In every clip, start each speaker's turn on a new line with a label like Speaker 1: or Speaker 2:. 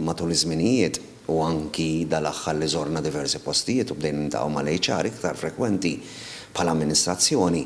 Speaker 1: Matul iż-żminijiet, u anki dal-aħħar li żorna diversi postijiet u bdejna niltaqgħu mal-HR iktar frekwenti bħala amministrazzjoni,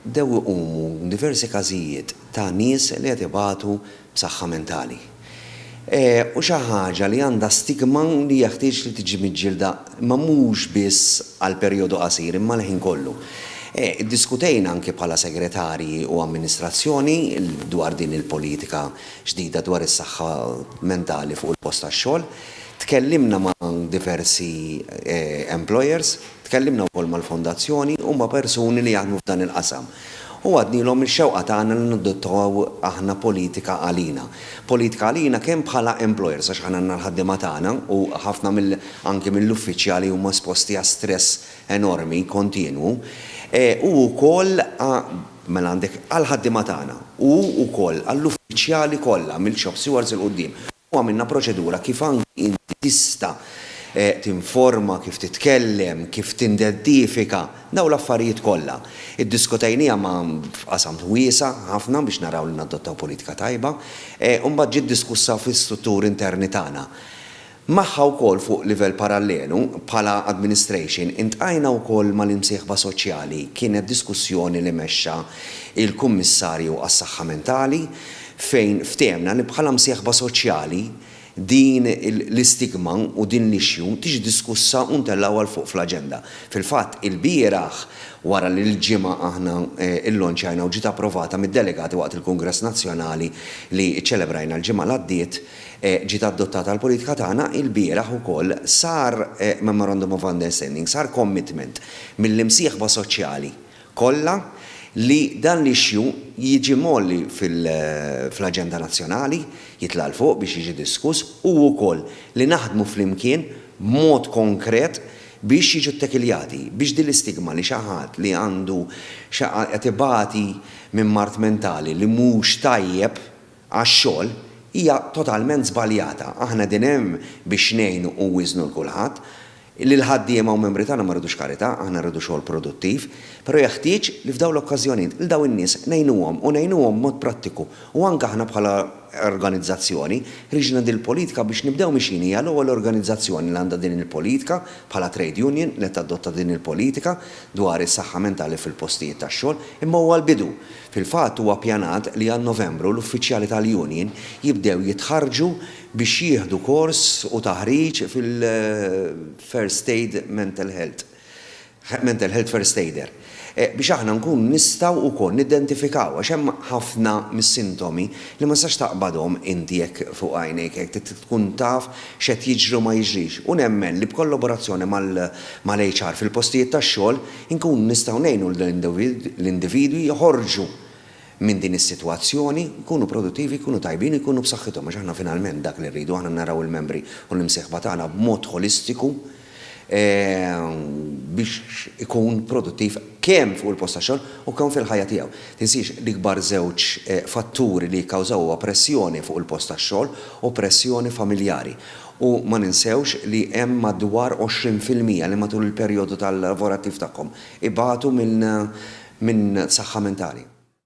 Speaker 1: bdew iqumu diversi każijiet ta' nies li qed ibatu b'saħħa mentali. U xi ħaġa li għandha stigma li jeħtieġ li tiġi miġġielda Imma mhux biss għal perjodu qasir, imma l-ħin kollu. Iddiskutejna anki bħala segretarji u amministrazzjoni dwar din il-politika ġdida dwar is-saħħa mentali fuq il-post tax-xogħol. Tkellimna ma' diversi employers, tkellimna wkoll mal-fondazzjoni u ma' persuni li jaħdmu f'dan il-qasam. U għadnilhom ix-xewqa tagħna li nadottaw aħna politika għalina. Politika għalina kemm bħala employers għax aħna għandna l-ħaddiema tagħna u ħafna mill anki mill-uffiċjali huma esposti għal stress enormi kontinwu e u wkoll għa mela għandek għall-ħaddiema tagħna u wkoll għall-uffiċjali kollha mill-shop stewards 'il quddiem. u għamilna proċedura kif anki inti tista' tinforma, kif titkellem, kif tindeddifika, dawn l-affarijiet kollha. Iddiskutejniha ma' f'qasam wiesa' ħafna biex naraw li nadottaw politika tajba, u mbagħad ġiet diskussa fl-istrutturi interni tagħna. Magħha wkoll fuq livell parallelu, bħala administration, iltqajna wkoll mal-imsieħba soċjali, kienet diskussjoni li mexxa l-Kummissarju għas-Saħħa Mentali, fejn ftehemna li bħala msieħba soċjali din l-istigma u din l-issue tiġi diskussa u ntellgħuha 'l fuq fl-aġenda. Fil-fatt, ilbieraħ, wara li l-Ġimgħa aħna llonċjajna u ġiet approvata mid-delegati waqt il-Kungress Nazzjonali li ċċelebrajna l-ġimgħa l-għaddiet, ġiet adottata l-politika tagħna, ilbieraħ ukoll sar memorandum of understanding, sar commitment mill-imsieħba soċjali kollha li dan l-issue jiġi mgħolli fl-aġenda nazzjonali, jitla' 'l fuq biex jiġi diskuss u wkoll li naħdmu flimkien b'mod konkret biex jiġu ttekiljati, biex din l-istigma li xi ħadd li għandu qed ibati minn mard mentali li mhux tajjeb, għax-xogħol hija totalment żbaljata. Aħna qegħdin hemm biex ngħinu u nwiżżnu 'l kulħadd. Lill-ħaddiema u membri tagħna ma rridux karità, aħna rridu xogħol produttiv. Però jeħtieġ li f'dawn l-okkażjonijiet 'l dawn in-nies ngħinuhom u ngħinuhom b'mod prattiku u anke aħna bħala organizzazzjoni ħriġna din il-politika biex nibdew mixjin hija l-ewwel organizzazzjoni li għandha din il-politika bħala trade union li tadotta din il-politika dwar is-saħħa mentali fil-postijiet tax-xogħol imma huwa l-bidu. Fil-fatt huwa ppjanat li għal Novembru l-uffiċjali tal-union jibdew jitħarrġu biex jieħdu kors u taħriġ fil-First Aid Mental Health, Mental Health First Aider, biex aħna nkunu nistgħu wkoll nidentifikaw għax hemm ħafna mis-sintomi li ma tistax taqbadhom inti hekk fuq għajnejk hekk trid tkun taf x'qed jiġri u ma jiġrix u nemmen li b'kollaborazzjoni mal-HR fil-postijiet tax-xogħol Inkunu nistgħu ngħinu lill-individwi joħorġu minn din is-sitwazzjoni, jkunu produttivi, jkunu tajbin u jkunu b'saħħithom għax aħna finalment dak li rridu, aħna naraw il-membri u l-imsieħba tagħna b'mod ħolistiku biex ikun produttiv kemm fuq il-post tax-xogħol u kemm fil-ħajja tiegħu. Tinsiex, l-ikbar żewġ fatturi li jikkawżaw huwa pressjoni fuq il-post tax-xogħol u pressjoni familjari. U ma ninsewx li hemm madwar 20 fil-mija li matul il-perjodu tal-lavorattiv tagħhom ibatu minn saħħa mentali.